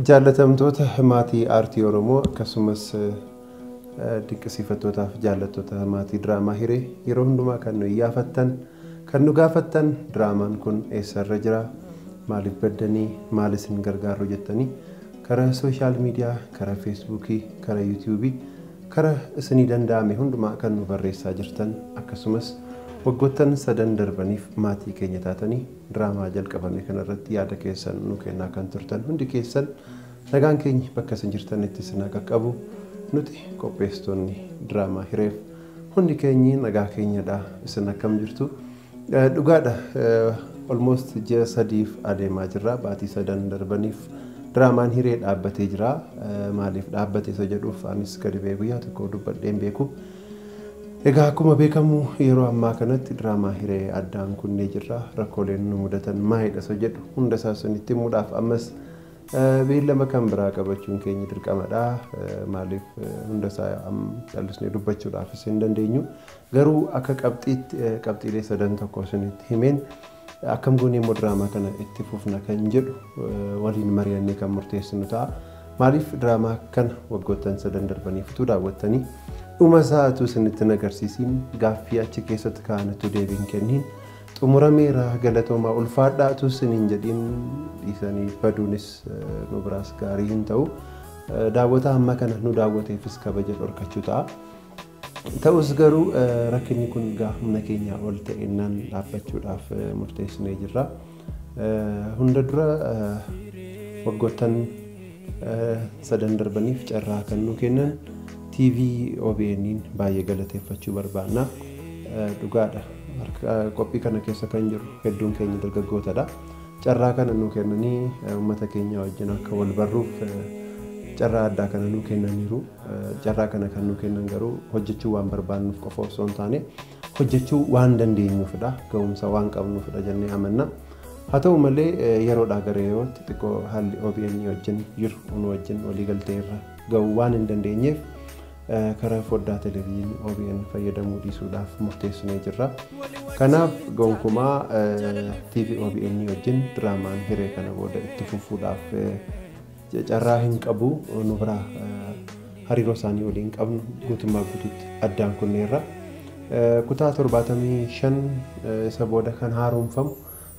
Jaallatamtoota maatii aartii Oromoo akkasumas dinqisiifattootaaf jaallattoota maatii diraamaa hiree yeroo hundumaa kan nu iyyaafattan Kan nu gaafattan diraamaan kun eessa irra jira? Maaliif baddanii? Maal isin gargaarru jettanii kara sooshaal miidiyaa, kara feesbuukii, kara yuutiyuubii, kara isinii danda'ame hundumaa kan nu barreessaa jirtan akkasumas waggoottan sadan darbaniif maatii keenya taatanii diraamaa jalqabame kana irratti yaada keessan nu kennaa kan turtan hundi keessan nagaan keenyi bakka isin jirtanitti isin haa qaqqabu. Nuti qopheessitoonni diraamaa hireef Hundi keenyi nagaa keenyadha. Isin akkam jirtu? Dhugaadha almost ji'a sadiif adeemaa jirra. Baatii sadan darbaniif diraamaan hiree dhaabbatee jira. Maaliif dhaabbate isa jedhuuf anis gadi ba'ee guyyaa tokko dubbadhee hin beeku. Egaa akkuma beekamu yeroo ammaa kanatti diraamaa hiree addaan kunnee jirra. Rakkooleen nu mudatan maalidha isa jedhu hunda isaa isinitti himuudhaaf ammas Beellama kan biraa qabachuun keenya dirqama dha. Maaliif hunda isaa callisnee dubbachuudhaafis hin dandeenyu. Garuu akka qabxiitti qabxiilee sadan tokko isinitti himeen akkam goonee immoo diraamaa kana itti fufna kan jedhu waliin mari'annee kan murteessinu ta'a. Maaliif diraamaa kana waggoottan sadan darbaniif utuu daawwattanii dhuma isaa utuu isinitti hin agarsiisiin gaaffii achi keessatti kaa'an utuu deebiin kenniin Xumurameera galatoomaa ulfaadhaa utuu sin hin jedhiin dhiisanii baduunis nu biraas gaarii hin ta'u. Daawwataa hamma kana nu daawwateefis kabaja dhorkachuu ta'a. Ta'us garuu rakkinni kun gaa humna keenyaa ol ta'ennaan dhaabbachuudhaaf murteessinee jirra. Hunda dura waggoottan sadan darbaniif carraa kan nu kennan TV OBN'n baay'ee galateeffachuu barbaanna. Dhugaadha harka qophii kana keessa kan jiru hedduun keenya dargaggootadha. Carraa kana nu kennanii uummata keenya wajjin akka wal barruuf carraa addaa kana nu kennaniiru. Carraa kana kan nu kennan garuu hojjechuu waan barbaannuuf qofa osoo hin taane hojjechuu waan dandeenyuufidha. Ga'umsa waan qabnuufidha jennee amanna. Haa ta'u malee yeroodhaa gara yerootti xiqqoo haalli OBN wajjin jiru nu wajjin waliigaltee irra ga'uu waan hin dandeenyeef karaa foddaa televezyiinii OBN fayyadamuu dhiisuudhaaf murteessinee jirra. Kanaaf gonkumaa TV OBN wajjin diraamaan hiree kana booda itti fufuudhaaf carraa hin qabu nu biraa hariiroo isaanii waliin qabnu guutummaa guututti addaan kunneerra. Kutaa 75 isa booda kan haaromfamu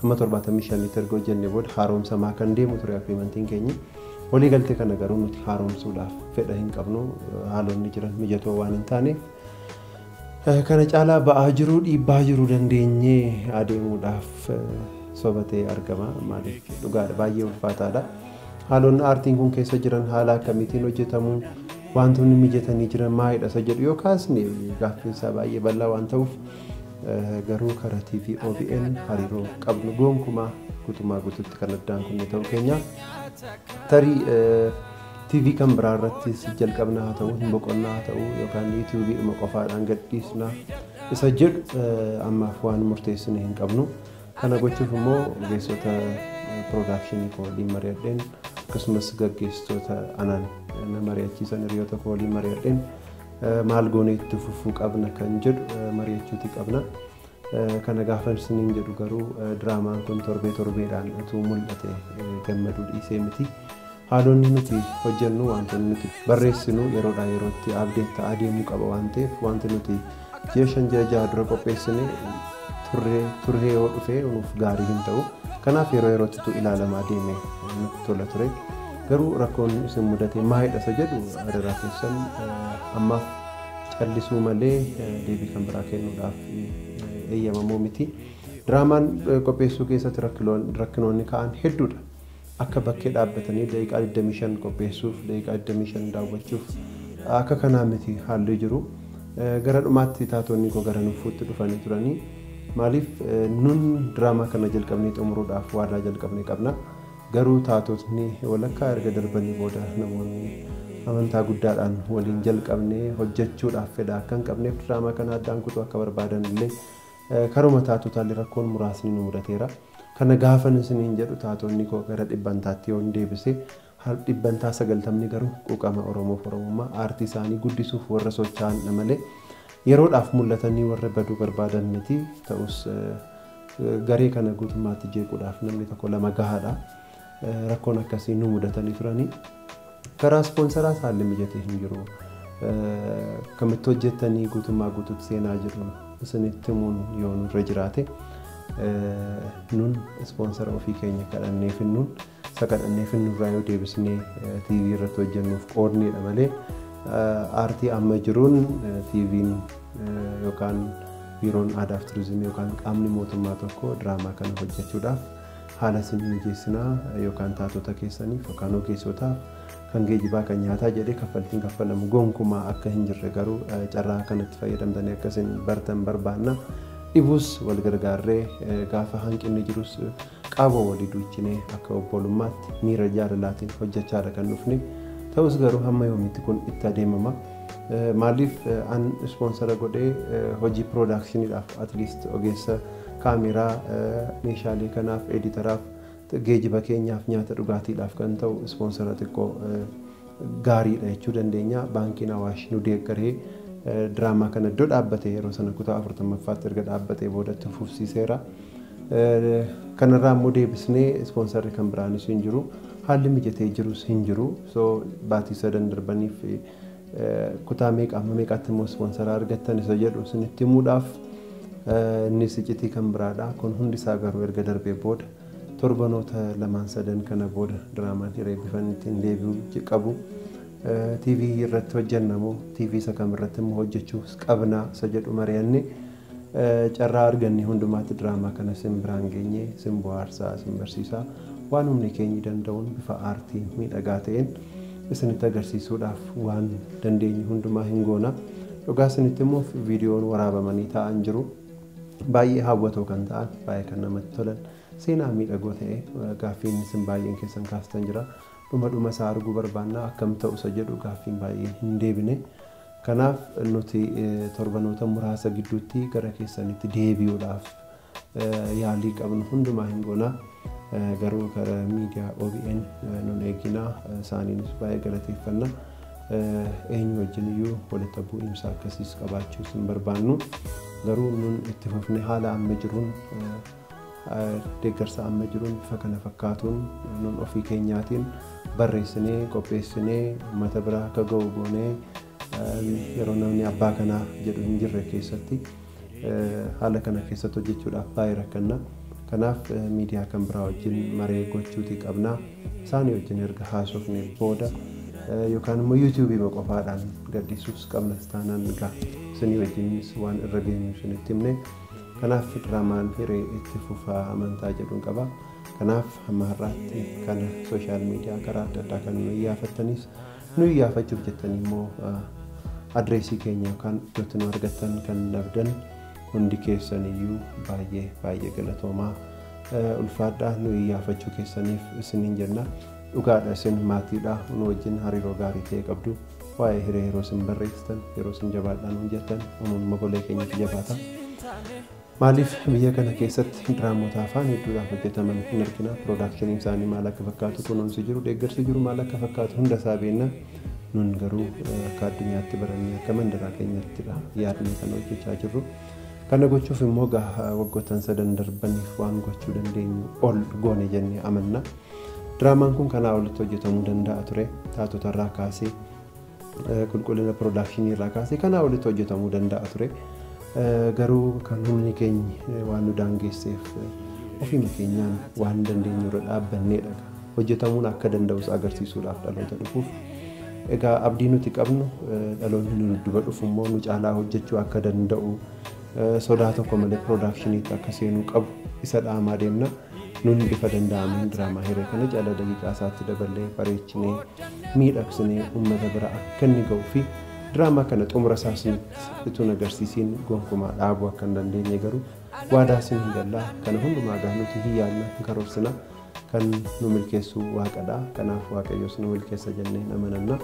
hamma 75tti erga hojjenne booda haaromsamaa kan deemu ture agriimantiin keenya. Walii galtee kana garuu nuti haaromsuudhaaf fedha hin qabnu haalonni jiran mijatoo waan hin taaneef Kana caalaa ba'aa jiruu dhiibbaa jiru dandeenyee adeemuudhaaf soba ta'ee argama. Maaliif dhugaadha baay'ee ulfaataadha. Haalonni aartiin kun keessa jiran haala akkamiitiin hojjetamu wantoonni mijatanii jiran maalidha isa jedhu yoo kaasne gaaffiin isaa baay'ee bal'aa waan ta'uuf garuu karaa TV OBN hariiroo qabnu gonkumaa guutumaa guututti kan addaan kunne ta'uu keenya tarii TV kan biraa irratti si jalqabna haa ta'u hin boqonnaa haa ta'u yookaan YouTube dhuma qofaadhaan gadhiisna isa jedhu eh, ammaaf waan murteessine hin qabnu. Kana gochuuf immoo ogeessota piroodakshinii koo waliin mari'adheen akkasumas gaggeessitoota anaan eh, na mari'achiisan hiriyoota koo waliin mari'adheen eh, maal goonee itti fufuu qabna kan jedhu eh, mari'achuuti qabna. Kana gaafan isiniin jedhu garuu diraamaan kun torbee torbeedhaan utuu mul'ate gammaduu dhiisee miti. Haalonni nuti hojjennu wantoonni nuti barreessinu yeroodhaa yerootti abdeet ta'aa deemuu qaba waan ta'eef wanti nuti ji'a shan ji'a jaha dura qopheessine turree turree yoo dhufee nuuf gaarii hin ta'u. Kanaaf yeroo yerootti utuu ilaalamaa deeme nutti tola ture. Garuu rakkoon isin mudate maalidha isa jedhu adaraa keessan ammaaf callisuu malee deebii kan biraa kennuudhaaf eeyyamamoo miti. Diraamaan qopheessuu keessatti rakkiloon- rakkinoonni ka'an hedduudha. Akka bakkee dhaabbatanii daqiiqaa 25 qopheessuuf, daqiiqaa 25 daawwachuuf akka kanaa miti haalli jiru. Eh, Gara dhumaatti taatonni koo gara nuffuutti dhufanii turanii maaliif eh, nun diraamaa kana jalqabnee xumuruudhaaf waadaa jalqabne qabna. Garuu taatotni walakkaa erga darbanii booda namoonni amantaa guddaadhaan waliin jalqabne hojjechuudhaaf fedha akka hin qabneef diraamaa kana addaan kutuu akka barbaadan illee karuma taatotaallee rakkoon muraasni nu mudateera. Kana gaafan isiniin jedhu taatonni koo gara dhibbantaatti yoon deebise dhibbantaa sagaltamni garuu quuqama Oromoof Oromummaa aartii isaanii guddisuuf warra socho'anidha malee yeroodhaaf mul'atanii warra baduu barbaadan miti ta'us Garee kana guutummaatti jeequudhaaf namni tokko lama gahaadha. Rakkoon akkasii nu mudatanii turanii. Karaa ispoonsaraas haalli mijatee hin jiru. Kamitti hojjettanii guutummaa guutuutti seenaa jedhu isinitti himuun yoo nurra jiraate nun ispoonsara ofii keenya kadhannee finnuun Isa kadhannee finnurraa yoo deebisnee TV irratti hojjennuuf qoodneedha malee aartii amma jiruun TV'n yookaan biiroon aadaa fi turizimii yookaan qaamni mootummaa tokko diraamaa kana hojjechuudhaaf haala isin mijeessinaa yookaan taatota keessaniif yookaan ogeessotaaf kan geejibaa kan nyaataa jedhee kaffaltiin kaffalamu gonkumaa akka hin jirre garuu carraa kanatti fayyadamtanii akka isin bartan barbaanna. Dhibus wal gargaarree gaafa hanqinni jirus Qaama walii duuchinee akka obbolummaatti miira jaalalaatiin hojjechaadha kan dhufne. Ta'us garuu hamma yoomiitti kun itti adeemama? Maaliif an ispoonsara godhee hojii piroodaakshiniidhaaf atliist ogeessa kaameeraa meeshaalee kanaaf, editaraaf, geejiba keenyaaf, nyaata dhugaatiidhaaf kan ta'u ispoonsara xiqqoo gaariidha jechuu dandeenya. Baankiin Awaash nu deeggaree diraamaa kana iddoo dhaabbate yeroo sana kutaa afurtammaffaatti erga dhaabbatee booda itti fufsiiseera. Kanarraa immoo deebisnee ispoonsarri kan biraanis hin jiru. Haalli mijatee jirus hin jiru. So baatii sadan darbaniif kutaa meeqa amma meeqaatti immoo ispoonsara argattan isa jedhu isinitti himuudhaaf innis iccitii kan biraadha. Kun hundi isaa garuu erga darbee booda Torbanoota lamaan sadan kana booda diraamaan hiree bifan ittiin deebi'u qabu TV irratti hojjenna moo TV isa kam irratti immoo hojjechuus qabna isa jedhu mari'anne carraa arganne hundumaatti diraamaa kana sin biraan geenye sin bohaarsaa sin barsiisaa waan humni keenyi danda'uun bifa aartii miidhagaa ta'een isinitti agarsiisuudhaaf waan dandeenye hundumaa hin goona. Dhugaa isinitti immoo viidiyoon waraabamanii taa'an jiru. Baay'ee hawwatoo kan ta'an, baay'ee kan namatti tolan, seenaa miidhagoo ta'e gaaffiin isin baay'een keessan kaastan jira. Dhuma dhuma isaa arguu barbaanna akkam ta'u isa jedhu gaaffiin baay'een hin deebine. Kanaaf nuti torbanoota muraasa gidduutti gara keessanitti deebi'uudhaaf yaalii qabnu hundumaa hin goona. Garuu kara miidiyaa obn nun eeginaa isaaniinis baay'ee galateeffanna. Eenyu wajjin iyyuu walitti bu'iinsa akkasiis qabaachuus hin barbaannu. Garuu nun itti fufne haala amma jiruun deeggarsa amma jiruun bifa kana fakkaatuun nun ofii keenyaatiin barreessinee qopheessinee uummata bira akka ga'u goonee Yeroo namni abbaa kanaa jedhu hin jirre keessatti haala kana keessatti hojjechuudhaaf baay'ee rakkanna. Kanaaf miidiyaa kan biraa wajjin maree gochuutii qabna. Isaanii wajjin erga haasofne booda yookaan immoo yuutuubiima qofaadhaan gadhiisuus qabna taanaan egaa isinii wajjinis waan irra geenyu isinitti himne. Kanaaf diraamaan hiree itti fufaa amantaa jedhuun qaba. Kanaaf hamma har'aatti kana sooshaal miidiyaa karaa adda addaa kan nu iyyaafattanis Nu iyyaafachuuf jettanii immoo adreesii keenya yookaan iddoo itti nu argattan kan dhabdan hundi keessan iyyuu baay'ee baay'ee galatoomaa. Ulfaadhaa nu iyyaafachuu keessaniif isiniin jenna. Dhugaadha isin maatiidha nu wajjin hariiroo gaarii ta'e qabdu. Waa'ee hiree yeroo isin barreessitan yeroo isin jabaadhaan nu jettan nuun mogolee keenyatti jabaata. Maaliif biyya kana keessatti diraamoota afaan hedduudhaan hojjetaman hin argina? Piroodaakshiniin isaanii maal akka fakkaatu, kunuunsi jiru, deeggarsi jiru maal akka fakkaatu hunda isaa beekna. Nun garuu akka addunyaatti barannee akka mandaraa keenyattidha yaadnee kan hojjechaa jirru. Kana gochuuf immoo gaha waggoottan sadan darbaniif waan gochuu dandeenyu ol goone jennee amanna. Diraamaan kun kanaa olitti hojjetamuu danda'a ture. Taatotarraa kaasee Qulqullina pirodaakshinii irraa kaasee kanaa olitti hojjetamuu danda'a ture. Garuu kan humni keenya waan nu daangeesseef ofiima keenyaan waan dandeenyu irra dhaabbanneedha. Hojjetamuun akka danda'us agarsiisuudhaaf dhaloota dhufuuf. Egaa abdii nuti qabnu dhaloonni nu dudduba dhufu immoo nu caalaa hojjechuu akka danda'u sodaa tokko malee pirodaakshinii itti akka seenuu qabu isa dhaamaa deemna. Nun bifa danda'ameen diraamaa hiree kana jala daqiiqaa isaatti daballee bareechinee miidhagsinee ummata bira akka inni ga'uu fi diraamaa kana xumura isaa isinitti utuu hin agarsiisiin gonkumaa dhaabuu akka hin dandeenye garuu waadaa isiniin galla. Kana hundumaa egaa nuti hin yaadna, hin karoorsina. Kan nu milkeessu Waaqadha. Kanaaf Waaqayyos nu milkeessa jennee hin amananna.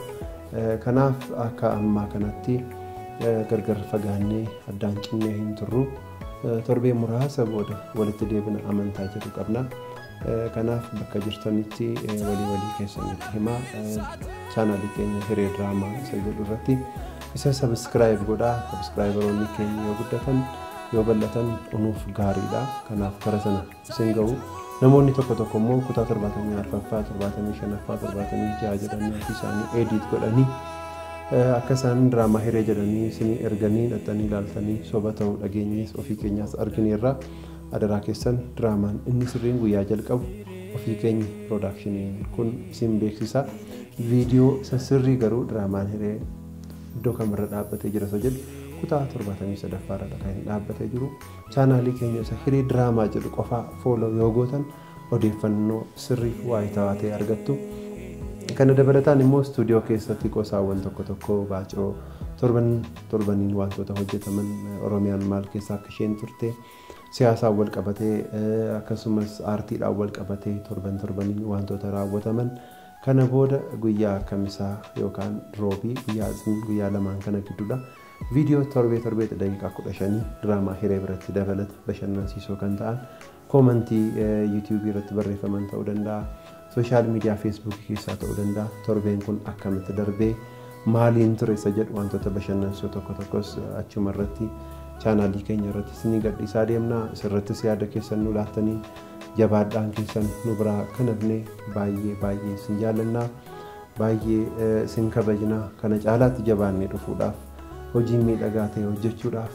Eh, Kanaaf akka ammaa kanatti eh, gargar fagaannee addaan cinnee hin turru. Torbee muraasa booda walitti deebina amantaa jedhu qabna. Kanaaf bakka jirtanitti walii walii keessanitti himaa chaanaalii keenya hiree diraamaa isa jedhu irratti isa sabiskiraayib godhaa sabiskiraayibaroonni keenya yoo guddatan yoo bal'atan unuuf gaariidha. Kanaaf bara sana isin ga'u. Namoonni tokko tokko immoo kutaa 74ffaa, 75ffaa, 76 jedhanii ofii isaanii edit godhanii eh, akka isaan diraamaa hiree jedhanii isinii erganii dhaxxanii ilaaltanii soba ta'uu dhageenyees ofii keenyaas argineerra. Adaraa keessan diraamaan inni sirriin guyyaa jalqabu ofii keenya piroodaakshiniin kun isin beeksisa. Viidiyoo isa sirrii garuu diraamaan hiree iddoo kamirra dhaabbatee jira isa jedhu kutaa 73ffaa irra kan dhaabbatee jiru. Chaanaalii keenya isa Hiree Diraamaa jedhu qofaa follow yoo gootan odeeffannoo sirrii waayitawaa ta'e argattu. Kana dabalataan immoo istuudiyoo keessatti qosaawwan tokko tokko baacoo torban torbaniin wantoota hojjetaman Oromiyaan maal keessa akka isheen turte siyaasaan wal qabatee eh, akkasumas aartiidhaan wal qabatee torban torbaniin wantoota raawwataman kana booda guyyaa kamisaa yookaan roobii guyyaa isniin guyyaa lamaan kana gidduudha Viidiyoo torbee torbeetti daqiiqaa 15 diraamaa hiree biratti dabalata bashannansiisoo kan ta'an koomantii yuutuubii irratti barreeffaman ta'uu danda'a. Sooshaal miidiyaa feesbuukii keessaa ta'uu danda'a. Torbeen kun akkamitti darbee maaliin ture isa jedhu wantoota bashannansiisoo tokko tokkos achuma irratti chaanaalii keenya irratti isinii gadhiisaa deemna. Isirrattis yaada keessan nu laattanii jabaadhaan keessan nu biraa kan hafne baay'ee baay'ee isin jaallanna. Baay'ee isin kabajna. Kana caalaatti jabaannee dhufuudhaaf hojii miidhagaa ta'e hojjechuudhaaf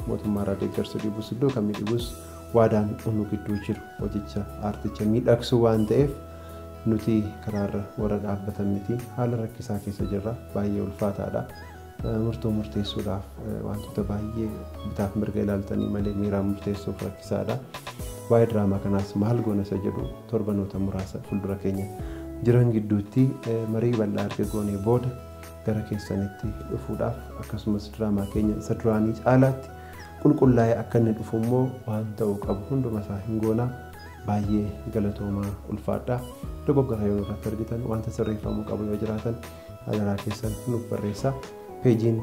mootummaarraa deeggarsa dhibus iddoo kamii dhibus waadaan nu gidduu jiru hojicha aarticha miidhagsuu waan ta'eef nuti karaarra warra dhaabbatan miti haala rakkisaa keessa jirra baay'ee ulfaataadha. Murtoo murteessuudhaaf wantoota baay'ee bitaaf mirga ilaaltanii malee miiraan murteessuuf rakkisaadha. Waa'ee diraamaa kanaas maal goona isa jedhu torbanoota muraasa fuuldura keenya jiran gidduutti marii bal'aa erga goonee booda gara keessanitti dhufuudhaaf akkasumas diraamaa keenya isa duraanii caalaatti qulqullaa'ee akka inni dhufu immoo waan ta'uu qabu hunduma isaa hin goona. Baay'ee galatoomaa ulfaadhaa. Dogoggora yoo irratti argitan wanta sirreeffamuu qabu yoo jiraatan adaraa keessan nuuf barreessaa. Peejiin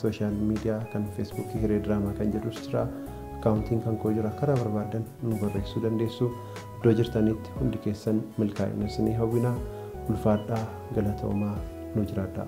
sooshaal miidiyaa kan feesbuukii hiree diraamaa kan jedhus jira. Akkaawuntiin kan koo jira. Karaa barbaadan nu barreessuu dandeessu. Iddoo jirtanitti hundi keessan milkaa'ina isinii hawwina. Ulfaadhaa galatoomaa nu jiraadhaa.